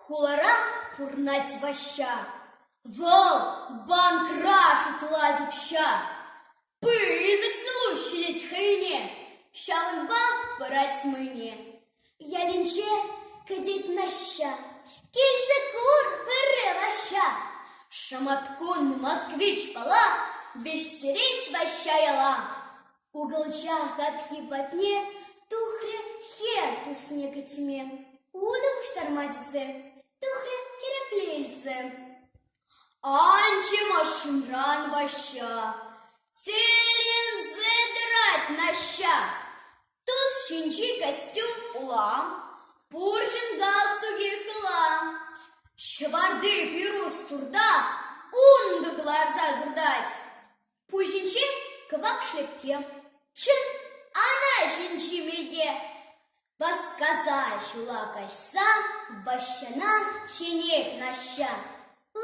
Хулара пурӑнать Ваҫҫа. Вӑл банкра шутлать укҫа. Пысӑк ҫулу ҫитет хӑйне, ҫавӑнпа парать мӑйне. Ялӗнче кӗтет Наҫҫа. Килсе кур пӗрре Ваҫҫа. Шӑматкун Москвич пала веҫтерет Ваҫҫа яла. Укӑлча хапхи патне тухрӗ хӗр тусне кӗтме. Утӑ пуҫтарма тесе тухрӗ тӗрекле илсе. Анче машинран Ваҫҫа тӗлӗнсе тӑрать Наҫҫа. Тус ҫинчи костюм улам, пурҫӑн галстукӗ хыла. Ҫӑварти пирус турта унтӑ кӑларса туртать. Пуҫӗнче кӑвак шлепке, чӑн ана ҫинчи милке. Васкаса ҫула каҫса Ваҫҫана чӗнет Наҫҫа: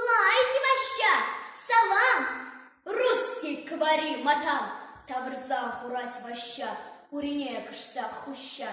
«Лайӑх, Ваҫҫа, салам! Русский кӑвари матам!» тавӑрса хурать Ваҫҫа, урине кӑшса хуҫа.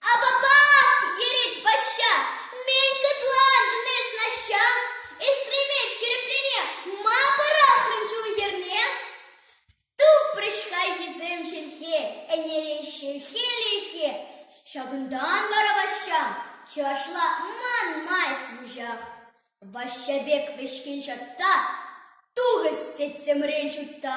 Апапап! Йӗрет Ваҫҫа. Мӗн кӑтлантӑн эс, Наҫҫа? Эсремет хӗрӗплене ма пӑрахрӑн ҫул хӗрне? Тупрӗҫ хайхисем чӗлхе, ӗнереҫҫӗ хӗлӗхе. Ҫакӑнтан вара Ваҫҫа чӑвашла манмасть вуҫах. Ваҫҫа пек вӗҫкен ҫатта тухӑҫ тӗттӗмрен ҫутта.